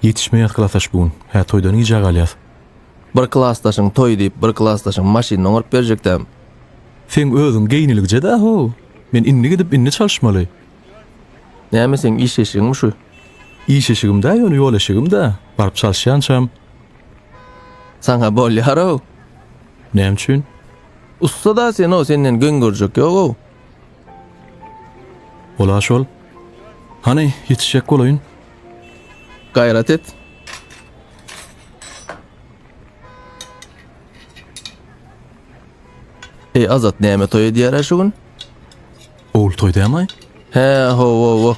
Ýetişmeýäs klasaş bu gün. Hä, toýdan gijä galýas. Bir klasdaşyň toýy diýip, bir klasdaşyň maşynyny oňaryp berjekdäm. Seň özüň geýniligije-dä ho. Men indi gidip, indi çalyşmaly. Näme, seň iş eşigiňmi şu? Iş eşigim-dä, ýöne ýol eşigim-dä. Baryp çalyşýançam. Saňa bolýar-ow. Näme üçin? Ussa-da sen-ow, senden geň görjek ýog-ow. Ola şol. Hany, ýetişjek bolaýyn. Gaýrat et. Eý, Azat, näme toý edýär-ä şu gün? Ol toý dämaý? Hä, ho-ho-ho.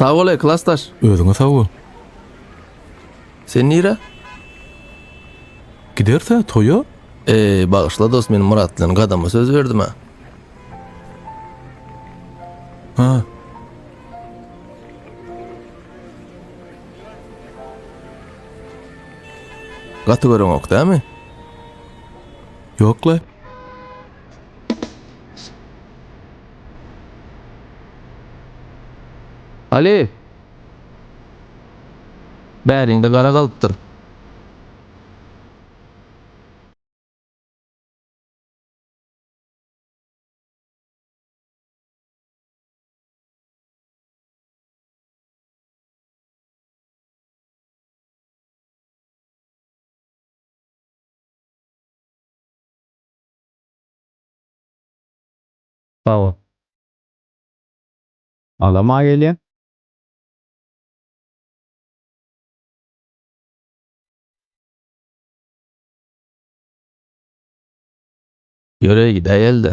Sag bol, klasdaş. Özüňe sag bol. Sen nire? Giderse toýa? Eee, bagyşla dost, men Murat bilen gadama söz berdim ha. Ha. Gaty göreňok dämi? Ýok-la. Aly! Bäriňde gara galypdyr. Sawa. Ala ma gelýä. Ýöre gidäýelde.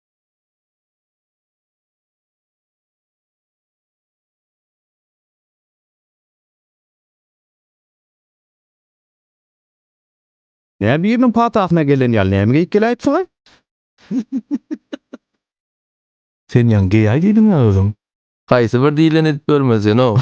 Näme biriniň patasyna gelen ýaly näme geýip geläýipsiň-aý? Sen ýaňy geýäý diýdiň-ä özüň. Haýsy bir diýleni edip görmez sen-ow.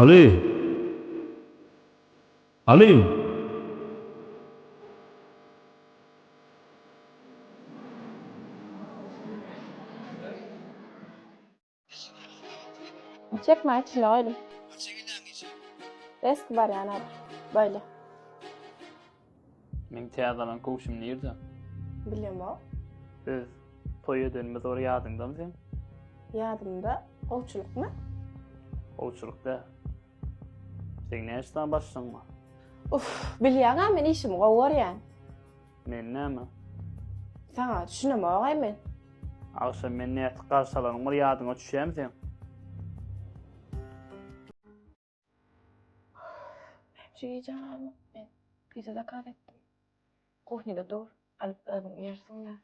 Aly! Aly! Çekmaň içine goýuň. Beski barýan ol. Boýly. Meň täze alan köwşüm nirde? Bilemok. Biz toý edenimiz bar ýadyňdamy seň? Ýadymda. Gowçulykmy? Gowçulyk däl. Seň näçe sany başlygyň bar? Uf, bilýäň-ä men işimi gowy görýän. Men näme? Saňa düşünemok-aý men. Agşam meni nätip garşy alanyň bir ýadyňa düşýämi seň? Şu gije alma. Men pizza zakaz etdim. Kuhnede dur. Alyp özüň iýersiň ýa.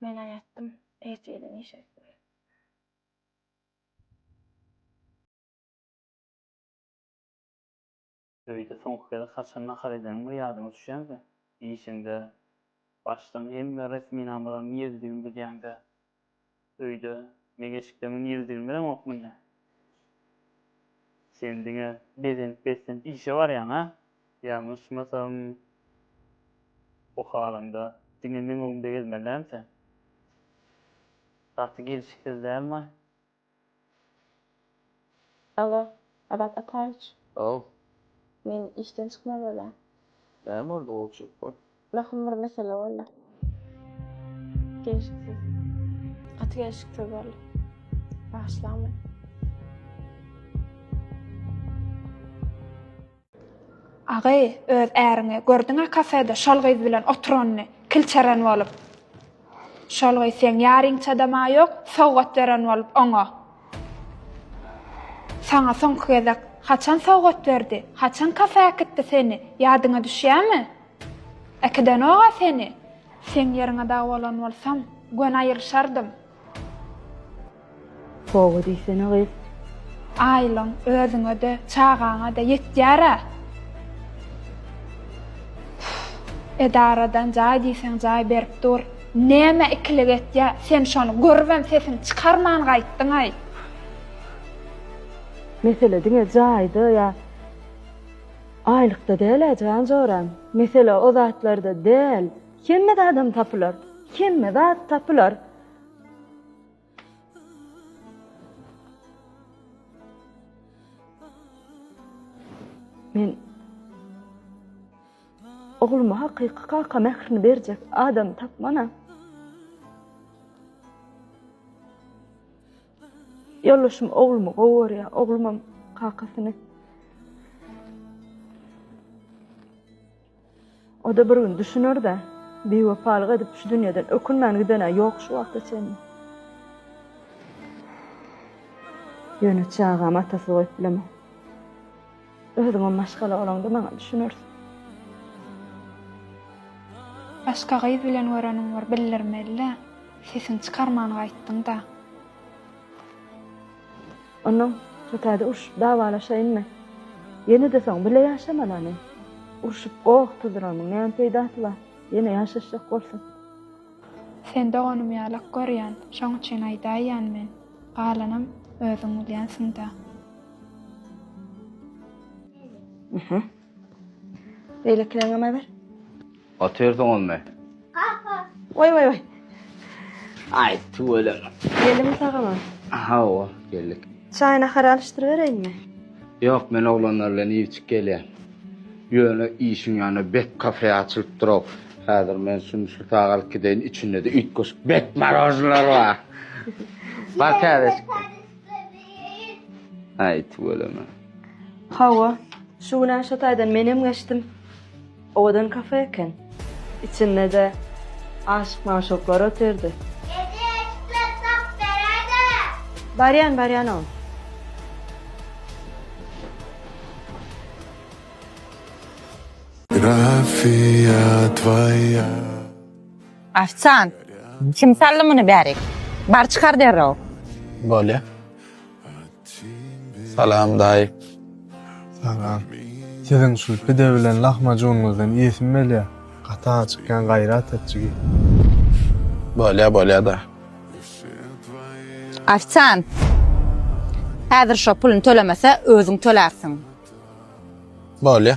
Men aýatdym. Ertire işe. Öýde soňky gezek haçan nahar edeniň bir ýadyňa düşýänkä, işiňde Başdan hemme resminamalaryň ýerlidigini bilýäňdä. Öýde meňeşikleňiň ýerlidigini bileňokmy ine? Sen diňe bezenip-beslenip işe barýaň-a? Ýalňyşmasam, bu halyňda diňe meň öňümde gezmelläň sen? Gaty gelşiksiz dälmaý? Alo, Azat Ataýewiç. Haw. Men işden çykmaly bolýan. Näme boldy, gowy çykyp bor. Möhüm bir mesele boldy. Gelşiksiz. Gaty gelşiksiz boldy. Bagyşlaň meni. Agy, öz äriňi gördüň-ä kafede şol gyz bilen oturanyny, kilçeren bolup. Şol gyz seň ýaryňçadam-a ýok, sowgat beren bolup oňa. Saňa soňky gezek haçan sowgat berdi, haçan kafe äkitdi seni, ýadyňa düşýämi? Äkidenok-a seni. Seň ýeriňe dagy bolan bolsam, göni aýryşardym. Toba diýsene gyz. Aýlyň özüňede, çagaňada ýetýär-ä. Üf, edaradan jaý diýseň jaý berip dur. Nämä ikilik etýä, sen şony görübem sesiňi çykarman gaýtdyňaý. Mesele diňe jaýda ýa aýlykda däl-ä janjorem. Mesele o zatlarda däl. Hemme zadam tapylar, hemme zat tapylar. Men ogluma hakyky kaka mährini berjek adam tapmana. Ýoldaşym oglumy gowy görýär, oglumam kakasyny. O-da bir gün düşüner-dä. Biwepalyk edip şu dünýeden ökünmän giden-ä ýok şu wagta çenli. Ýöne çagamy atasyz goýup bilemok. Özüňem maşgala bolaňda maňa düşünersiň. Başga gyz bilen göreniň bor bildirmeli-dä. Sesiňi çykarman gaýtdyň-da. Onnoň Şotaýda urşup dawalaşaýynmy? Ýene-de soň bile ýaşamalany. Urşup goh tuzramyň näme peýdasy bar, ýene ýaşaşjak bolsak. Sen doganym ýalak görýän, şoň üçin aýdaýýan men. Galanam özüň bilýänsiň-dä. Beýlekileňem ber. Atyr soňamy? Apa. Oý oý oý. Aý tüweleme. Geldim sagama. Hawa, geldik. Çaý nahar alyşdyr bereýinmi? Ýok, men oglanlar bilen iýip-içip gelýän. Ýöne işiň ýanyna bet kafe açylypdyr-ow. Häzir men şuny şu sag alyp gideýin, içinde-de üýtgeşik bet marožnylar bar. Bar täzeşik. Aý tüweleme. Hawa, şu günem şo taýdan menem geçdim. Owadan kafe eken. Içinde-de aşyk-magşuklar otyrdy. Ede, isläp tapyp beräýdä! Barýan, barýan oň. Grafiýa twoýa. Ofisiant, kim saldy muny bärik? Bar çykar derrew. Bolýa. Salam daýy. Salam. Siziň şul pide bilen lahmajunňyzdan iýesim belýär. Gaty açykýan gaýrat et jigim. Bolýa bolýa da. Ofisiant. Häzir şo pulyny tölemese özüň tölärsiň. Bolýa.